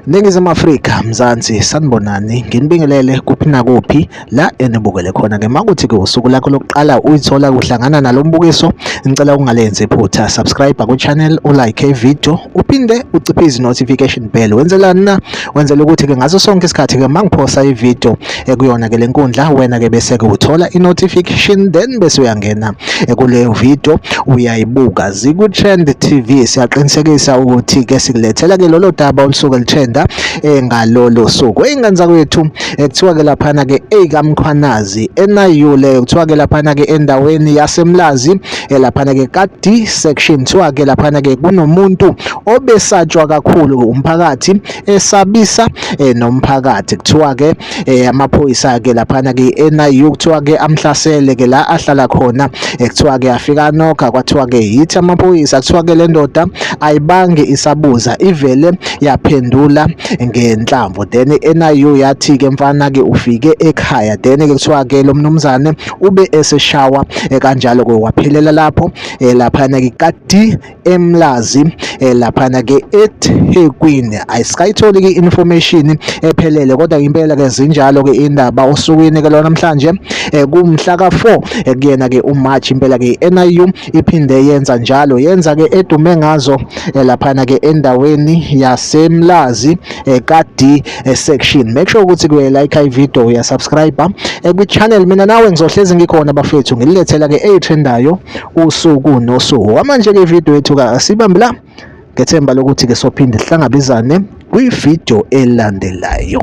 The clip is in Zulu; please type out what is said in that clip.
Ningizimu Afrika Mzansi sanibonani nginibingelele kuphi nakuphi la enibukele khona ke makuthi ke usuku lakho lokuqala uyithola kuhlangana nalombukiso ngicela ungalenzi iphutha subscribe ku channel u like video uphinde uciphe izi notification bell wenzelani na wenzela ukuthi ke ngaso sonke isikhathi ke mangiphosa ivideo ekuyona ke lenkundla wena ke bese ke uthola inotification then bese uyangena kuleyo video uyayibuka ziku trend TV siyaqinisekisa ukuthi ke sikulethela ke lolo daba olusuke lithenda eh, ngalolo suku ingane zakwethu eh, kuthiwa ke laphana ke eyikamkhwanazi enayule kuthiwa ke laphana ke endaweni yasemlazi eh, laphana ke ka D section kuthiwa ke laphana ke kunomuntu obesatshwa kakhulu umphakathi esabisa eh, nomphakathi kuthiwa ke eh, amaphoyisa ke laphana ke NIU kuthiwa ke amhlasele ke la ahlala khona eh, kuthiwa ke afika nokha kwathiwa ke yithi amaphoyisa kuthiwa ke lendoda ayibange isabuza ivele yaphendula ngenhlamvu then NIU yathi ke mfana ke ufike ekhaya then ke kuthiwa ke lo mnumzane ube eseshawa kanjalo ke waphelela lapho laphana ke kadi eMlazi eh, laphana ke eThekwini ayisayitholi ke information ephelele kodwa impela ke zinjalo ke indaba osukwini ke lona namhlanje eh, kumhla ka4 eh, kuyena ke uMarch impela ke NIU iphinde yenza njalo yenza ke edume ngazo laphana ke endaweni yaseMlazi kaD section make sure ukuthi kuye like i video ya subscribe kwi channel mina nawe ngizohlezi ngikhona bafethu ngililethela ke eyitrendayo usuku nosuku kwamanje-ke ividiyo yethu ka asibambe la ngethemba lokuthi-ke sophinde sihlangabezane kwividiyo elandelayo